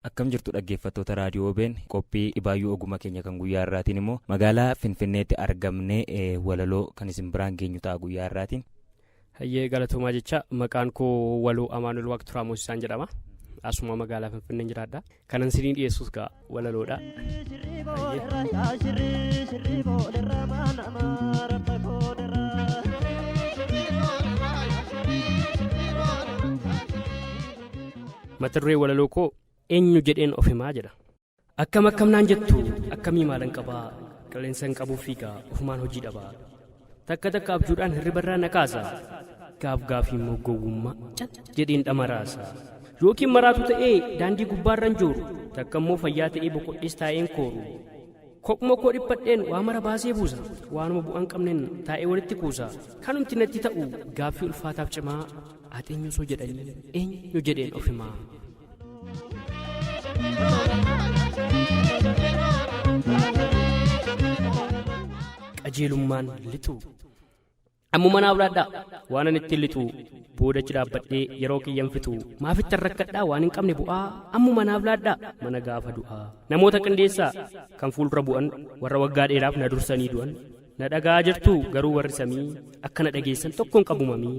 akkam jirtu dhaggeeffattoota raadiyoo obeen qophii dhibaayyuu ogummaa keenya kan guyyaa irraatiin immoo magaalaa finfinneetti argamnee walaloo kan isin biraan geenyu ta'a guyyaa irraatiin Hayyee galatoomaa jecha maqaan koo waloo Amaanuel Waaqturaa Moosisaan jedhama. Asuma magaalaa Finfinneen jiraadha. Kanan sinii dhiyeessus gaa walaloodha. Mata duree walaloo koo eenyu jedheen of himaa jedha. Akkam akkam naan jettu akkamii maalan qabaa qilleensan qabuu fiigaa ofumaan hojii dhabaa takka takka abjuudhaan hirribarraa na kaasa gaaf gaafii immoo gowwummaa cat jedheen dhamaraasa yookiin maraatu ta'ee daandii gubbaarran jooru takka immoo fayyaa ta'ee boqodhees taa'een kooru kophuma koo dhiphadheen waa mara baasee buusa waanuma bu'aan qabneen taa'ee walitti kuusa kanumti natti ta'u gaaffii ulfaataaf cimaa ati eenyu osoo jedhanii eenyu jedheen ofimaa qajeelummaan lixuu ammuma naa bulaadhaa waan ani ittiin lixuu boodachi dhaabbadhee yeroo kiyyan fixuu maafittan rakkadhaa waan hin qabne bu'aa ammuma naa bulaadhaa mana gaafa du'aa namoota qindeessaa kan fuuldura bu'an warra waggaa dheeraaf na dursanii du'an na dhaga'aa jirtuu garuu warri samii akka na dhageessan tokkoon qabu mamii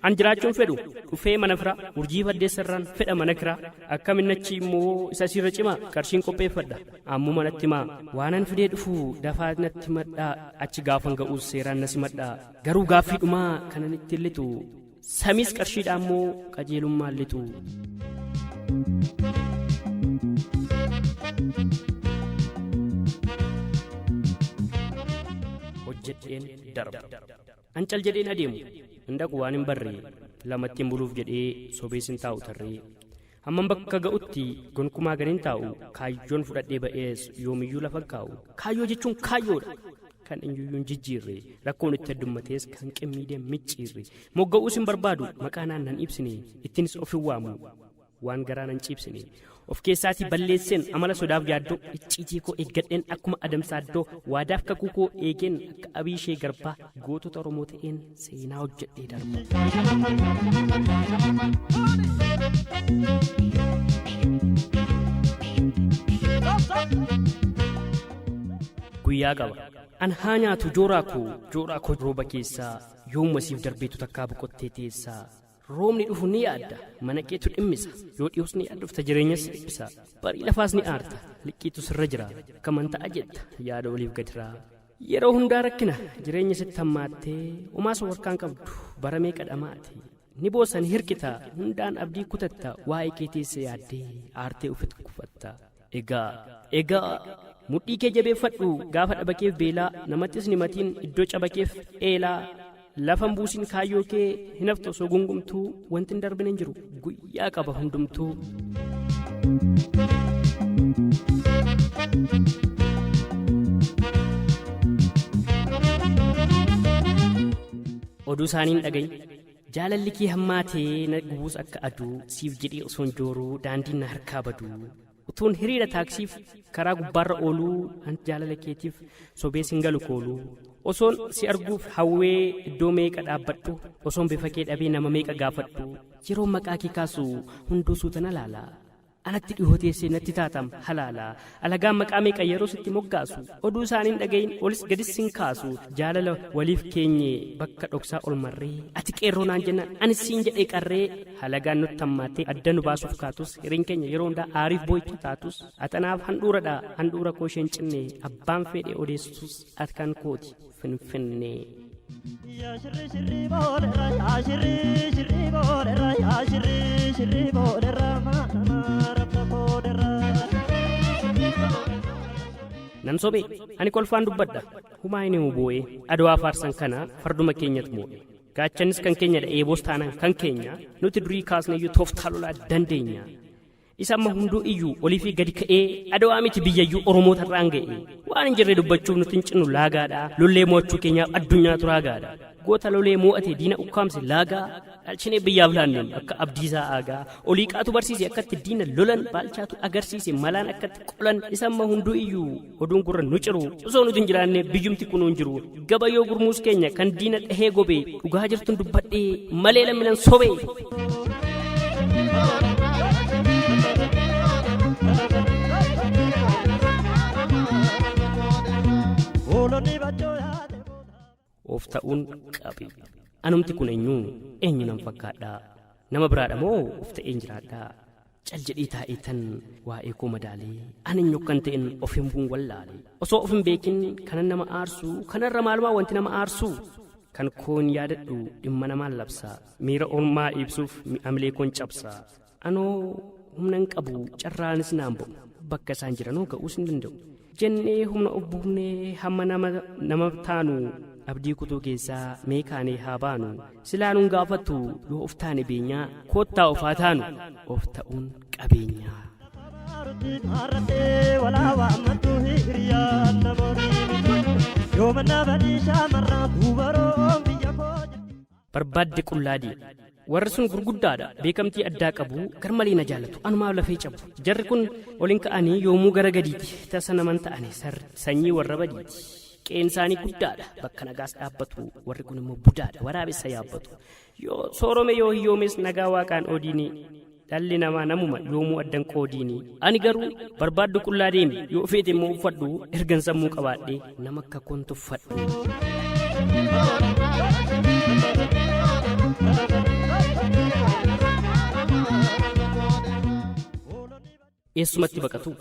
an jiraachuun fedhu dhufee mana firaa urjii faddeessarraan fedha mana kiraa akka minnachi immoo isa siirra cimaa qarshiin qopheeffadha ammoo manatti maa waanan fidee dhufu dafaa natti madhaa achi gaafan ga'uus seeraan na simadhaa garuu gaaffii dhumaa kanan itti illitu Samiis qarshiidhaa immoo qajeelummaan lixu. hojjedheen darba an cal jedheen adeemu hin dhaqu waan hin barree lamattiin buluuf jedhee sobees hin taa'u tarree Hamman bakka ga'utti gonkumaa gad hin taa'u, kaayyoon fudhadhee ba'es yoomiyyuu lafa hin kaa'u. Kaayyoo jechuun kaayyoodha! Kan eenyuyyuu hin jijjiirre, rakkoon itti heddummatees kan qimmiidee hin micciirre. Mogga'uus hin barbaadu, maqaa naan nan ibsine, ittiinis of hin waamu, waan garaa nan ciibsine. Of keessaatii balleesseen amala sodaaf yaaddoo, icciitii koo eeggadheen akkuma Adamsaaddoo, waadaaf kakuu koo eegeen akka Abiishee Garbaa, Gootota Oromoo ta'een seenaa hojjedhee darba. Guyyaa qaba. An haa nyaatu jooraa koo jooraa koo rooba keessaa yoomuma siif darbeetu takkaa boqottee teessaa. Roobni dhufu ni yaadda mana keetu dhimmisa yoo dhiyoos ni yaadofta jireenyas si dhiphisa barii lafaas ni aarta liqqiitu sirra jira kaman ta'a jetta yaada oliif gadiraa. Yeroo hundaa rakkina jireenya sitti hammaattee omaa si warkaan qabdu bara meeqa dhamaate ni boossa ni hirkita hundaan abdii kutatta waa'ee kee teessee yaaddee aartee ofitti kufatta egaa egaa mudhii kee jabeeffadhu gaafa dhabakeef beelaa namattis ni matiin iddoo cabakeef eelaa Lafa hin buusin kaayyoo kee hin haftu osoo gungumtuu wanti hin darbine hin jiru guyyaa qaba hundumtuu. Oduu isaaniin dhagayi. Jaalalli kee hammaatee na gubuus akka aduu siif jedhee osoon jooruu daandiin na harkaa baduu. Utuun hiriira taaksiif karaa gubbaarra ooluu anti jaalala keetiif sobee sin galu kooluu. Osoon si arguuf hawwee iddoo meeqa dhaabbadhu osoon bifa kee dhabee nama meeqa gaafadhu yeroo maqaa kee kaasu hunduu suuta na laala. Anatti dhihoo teessee natti taatam halaala alagaan maqaa meeqa yeroo sitti moggaasu oduu isaaniin dhagayin olis gadis sin kaasu jaalala waliif keenye bakka dhoksaa ol marree ati qeerroo naan jennaan anis siin jedhee qarree halagaan nutti hammaattee adda nu baasuuf kaatus hireen keenya yeroo hundaa aariif boo'icha taatus ati anaaf handhuuradha handhuura koo isheen cinne abbaan fedhe odeessus ati kan kooti finfinnee. Yaa shirri shirri boolerra yaa shirri shirri boolerra yaa shirri shirri boolerra maadama rabba boolerra. nan sobe ani kolfaan dubbadha humaa inni boo'ee adawaa faarsan kana farduma keenyat moo'e Gaachannis kan keenyadha eeboos taanaan kan keenya nuti durii kaasneeyyuu tooftaa lolaa dandeenya. Isa amma hunduu iyyuu olii fi gadi ka'ee adawaa miti biyyayyuu Oromoota irraan ga'e. Waan hin jirre dubbachuuf nuti hin cinnu laagaadha. Lollee mo'achuu keenyaaf addunyaatu raagaadha. Goota lolee mo'ate diina ukkaamse laagaa dhaalchinee biyyaaf laanneem akka abdiisaa aagaa. Oliiqaatu barsiise akkatti diina lolan baalchaatu agarsiise malaan akkatti qolan isa amma hunduu iyyuu oduun gurra nu ciru osoo nuti hin jiraanne biyyumti kun hin jiru gaba yoo gurmuus keenya kan diina dhahee gobe dhugaa jirtun dubbadhee malee lamminan sobe. Oloni bacho of ta'uun qabi. Anumti kun eenyu? Eenyu nan fakkaadha? Nama biraadha moo of ta'een jiraadha? Cal jedhii taa'ii tan waa'ee koo madaalee an eenyu akkan ta'en of himbuun wallaale. Osoo of hin beekin kanan nama aarsu kanarra maalumaa wanti nama aarsu? Kan koon yaadadhu dhimma namaan labsa. Miira ormaa ibsuuf mi'amilee koon cabsa. Anoo humna hin qabu carraanis naan bu'u bakka isaan jiranoo ga'uus hin danda'u. Jennee humna of buufnee hamma nama nama taanu abdii kutuu keessaa mee kaanee haa baanu silaa nun gaafattu yoo of taane beenyaa koottaa of haa taanu of ta'uun qabeenyaa. Yooma nama dhiisaa marraa duubaroo biyya koo. barbaadde qullaa deemu. Warri sun gurguddaadha, beekamtii addaa qabu, garmalee na jaalatu, anumaaf lafee cabu. Jarri kun ol hin ka'anii yoomuu gara gadiiti, tasa naman ta'ani sarri, sanyii warra badiiti. Qe'een isaanii guddaadha, bakka nagaas dhaabbatu, warri kun immoo budaadha, waraabessa yaabbatu. Yoo soorome yoo hiyyoomes nagaa waaqaan oodiini. Dhalli namaa namuma yoomuu addan qoodiini. Ani garuu barbaaddu qullaa deemi yoo feete immoo uffadhu ergan sammuu qabaadhe nama akka koon tuffadhu. Eessumatti baqatu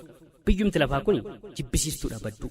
biyyumti lafaa kun jibbisiistuudha badduu.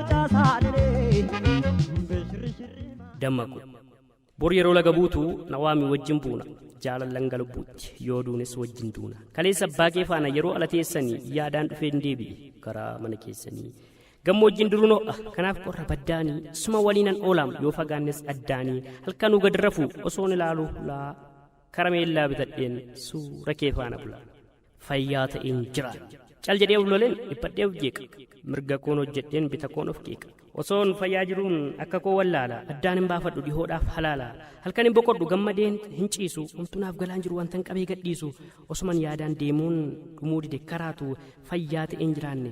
dammaqu bor yeroo laga buutu na waami wajjin buuna jaalallan galbuutti yoo duunis wajjin duuna kaleessa abbaa kee faana yeroo ala teessanii yaadaan dhufeen deebi'e karaa mana keessanii gammoojjiin duruun ho'a kanaaf qorra baddaanii suma waliinan oolaam yoo fagaannes addaanii halkanuu gad rafuu osoon ilaaluu hulaa karameellaa bitadheen suura kee faana bulaa fayyaa ta'een jira. Cal jedhee of loleen dhiphadhee of jeeqa. Mirga koon hojjedheen bita koon of qeeqa. Osoon fayyaa jiruun akka koo wallaala. Addaan hin baafadhu dhihoodhaaf halaala. Halkan hin boqodhu gammadeen hin ciisu. Omtuu naaf galaan jiru wantan qabee gadhiisu. Osuman yaadaan deemuun dhumuu dide karaatu fayyaa ta'een jiraanne.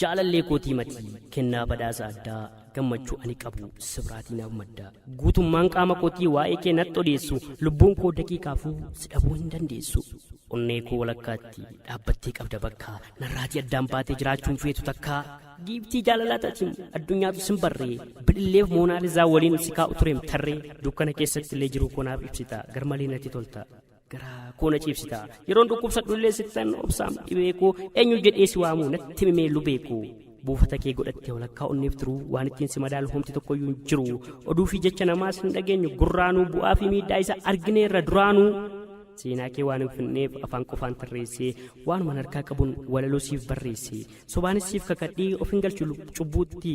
Jaalallee koo tiimatii kennaa badhaasa addaa gammachuu ani qabu sibiraatii naaf madda guutummaan qaama kootii waa'ee kee natti odeessu lubbuun koo daqiiqaafuu si dhabuu hin dandeessu onnee koo walakkaatti dhaabbattee qabda bakka narraatii addaan baatee jiraachuun feetu takkaa giiftii jaalalaa tatiin addunyaatu sin barree bililleef moonaalizaa waliin si kaa'u tureem tarree dukkana keessatti illee jiruu koo naaf ibsita garmalee natti tolta garaa koo na ciibsita yeroon dhukkubsadhu illee sittan obsaam dhibee koo eenyu jedhee si waamuu natti mimee lubee koo buufata kee godhattee walakkaa onneef turuu waan ittiin si madaalu homti tokkoyyuu hin jiru oduu fi jecha namaas hin dhageenyu gurraanuu bu'aa fi miidhaa isa argineerra duraanuu seenaa kee waan hin finneef afaan qofaan tarreessee waanuman harkaa qabuun walaloo siif barreesse sobaanis siif kakadhee of hin galchu cubbuutti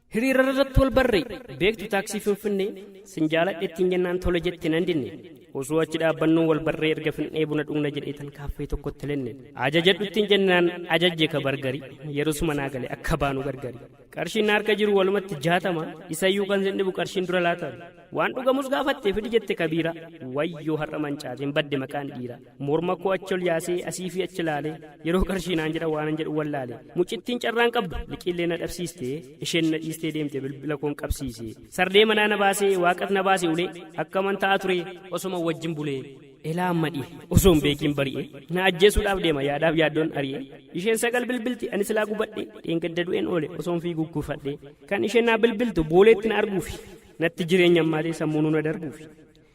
Hiriira irratti wal barre beektu taaksii finfinnee sin jaaladhe ittiin jennaan tole jette nan dinne osoo achi dhaabbannuu wal barree erga finnee buna dhugna jedheetan kaaffee tokkotti lenne ajajadhu ittiin jennaan ajajje ka bargari yerosuma naa gale akka baanu gargari qarshiin na harka jiru walumatti jaatama isayyuu kan sin dhibu qarshiin dura laatama waan dhugamus gaafatte fidi jette kabiira wayyoo har'a mancaateen badde maqaan dhiira morma koo achi ol yaasee asii fi achi laale yeroo qarshii naan jedha waanan jedhu wallaale mucittiin carraan qabdu liqiillee na dhabsiiste isheen na dhiistee deemte bilbila koon qabsiise sarree manaa na baasee waaqas na baase ulee akkaman ta'a ture osoma wajjin bulee elaa amma dhihe osoo hin beekiin bari'e na ajjeesuudhaaf deema yaadaaf yaaddoon ari'e isheen sagal bilbilti ani silaa gubadhe dheengadda du'een oole osoon fiiguu kuufadhe kan isheen naa bilbiltu booleetti na arguufi natti jireenya ammaatee sammuunuu na darbuufi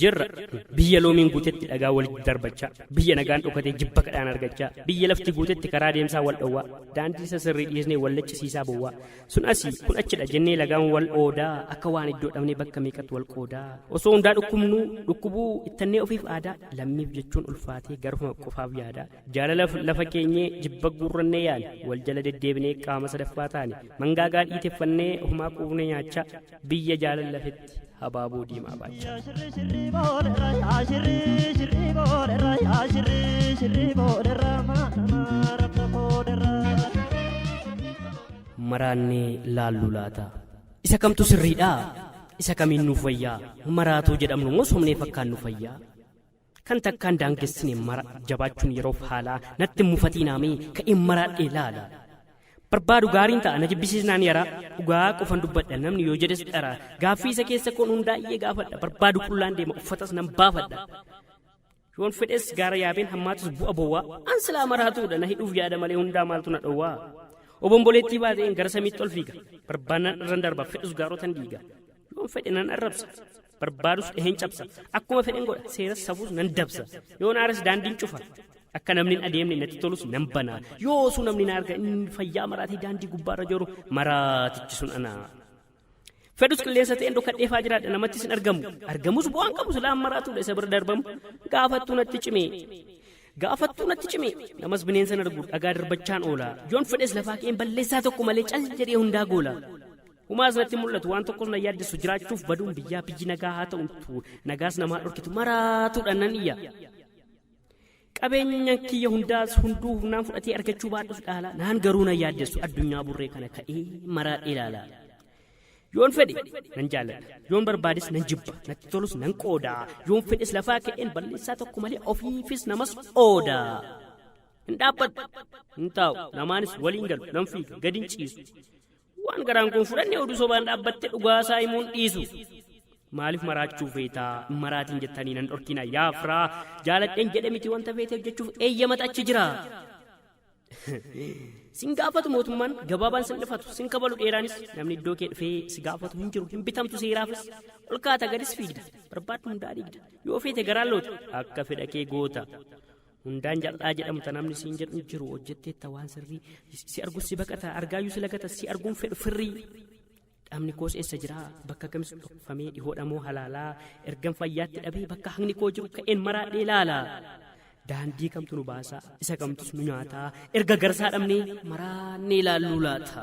jirra biyya loomiin guutetti dhagaa walitti darbachaa biyya nagaan dhokatee jibba kadhaan argachaa biyya lafti guutetti karaa deemsaa wal dhowwaa daandii isa sirrii dhiisnee wal laccisiisaa bowwaa sun asii kun achidha jennee lagaan wal oodaa akka waan iddoo dhabnee bakka meeqatti wal qoodaa osoo hundaa dhukkubnuu dhukkubuu ittannee ofiif aadaa lammiif jechuun ulfaatee garuma qofaaf yaadaa Jaalalaf lafa keenyee jibba guurrannee yaane wal jala deddeebinee qaama sadaffaa taane mangaagaa dhiiteffannee homaa quufne nyaachaa biyya jaalal lafetti habaaboo diimaa baachaa. Shirri shirri boolerra yaa shirri shirri boolerra yaa shirri shirri boolerra maadama rabba boolerra. maraannee laalluu laata isa kamtu sirriidha isa kamiin nuuf wayyaa maraatuu jedhamnu moo somnee fakkaan nu fayyaa Kan takkaan daangessine mara jabaachuun yeroof haalaa natti hin mufatiinaamee ka'een maraadhee laala. Barbaadu gaariin ta'a na jibbisiisnaan yaraa dhugaa qofan dubbadha namni yoo jedhes dhara gaaffii isa keessa koon hundaa'ee gaafadha barbaadu qullaan deema uffatas nan baafadha. Yoon fedhes gaara yaabeen hammaatus bu'a bowwaa an silaa maraatuudha na hidhuuf yaada malee hundaa maaltu na dhowwaa. Obomboleettii baatee gara samiitti ol fiiga barbaannaan irran darba fedhus gaarotan diiga. Yoon fedhe nan arrabsa barbaadus dhaheen cabsa akkuma fedhen godha seeras safuus nan dabsa yoon aares daandiin cufa akka namni hin adeemne natti tolus nan banaa yoo osuu namni na arga inni fayyaa maraatii daandii gubbaarra jiru maraatichi sun anaa fedhus qilleensa ta'een dhokadheefaa jiraadha namattis hin argamu argamus bu'aan qabu silaa maraatuudha isa bira darbamu gaafattuu natti cimee gaafattuu natti cime namas bineensan argu dhagaa darbachaan oola yoon fedhes lafaa ka'een balleessaa tokko malee cal jedhee hundaa goola Humaas natti mul'atu waan tokkos na yaaddessu jiraachuuf baduun biyyaa biyyi nagaa haa ta'utu nagaas namaa dhorkitu maraatuudhaan nan iyya. Qabeenya kiyya hundaas hunduu humnaan fudhatee argachuu baadhus dhaala naan garuu na yaaddessu addunyaa burree kana ka'ee maraa ilaala. Yoon fedhe nan jaalladha yoon barbaades nan jibba natti tolus nan qooda yoon fedhes lafaa ka'een balleessaa tokko malee ofiifis namas ooda. Hin dhaabbadhu hin taa'u namaanis waliin galu nan fiiga gadi hin ciisu. Waan garaan kun fudhanne oduu sobaan dhaabbatte dhugaa isaa himuun dhiisu. Maaliif maraachuu feetaa maraatiin jettanii nan dhorkina yaa firaa jaaladheen jedhe miti wanta feete hojjechuuf eeyyamata achi jira. Sin gaafatu mootummaan gabaabaan sin dhifatu sin kabalu dheeraanis namni iddoo kee dhufee si gaafatu hin jiru hin bitamtu seeraafis ol kaata gadis fiigda barbaaddu hundaa dhiigda yoo feete garaan loota akka fedha kee goota. hundaan jaldhaa jedhamu ta namni siin jedhu jiru hojjetteetta waan sirrii si argu si baqata argaayyuu si lagata si arguun fedhu firrii dhamni koos eessa jira bakka kamis dhokfamee dhihoodhamoo halaalaa ergan fayyaatti dhabee bakka haqni koo jiru ka'een maraadhee laala daandii kamtu nu baasaa isa kamtus nu nyaataa erga garsaa dhabnee maraannee laalluu laata.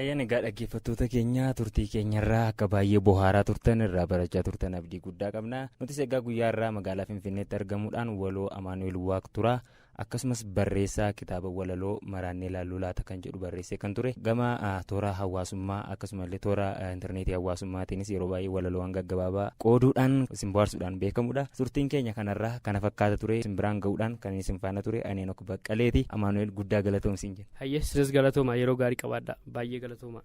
Ayyan egaa dhaggeeffattoota keenya turtii keenyarraa akka baay'ee bohaaraa turtan irraa barachaa turtan abdii guddaa qabna nutis egaa guyyaarraa magaalaa finfinneetti argamuudhaan waloo amaanu'el waaq tura akkasumas barreessaa kitaaba walaloo maraannee laalluu laata kan jedhu barreessee kan ture gama toora hawaasummaa akkasumallee toora intarneetii hawaasummaatiinis yeroo baay'ee walaloowwan gaggabaabaa qooduudhaan isin bohaarsuudhaan beekamudha turtiin keenya kanarraa kana fakkaata ture isin biraan ga'uudhaan kan isin faana ture aneen ok baqqaleeti amaanu'el guddaa galatoomsiin jenna. Hayyee sinis galatoomaa yeroo gaarii qabaadhaa baay'ee galatoomaa.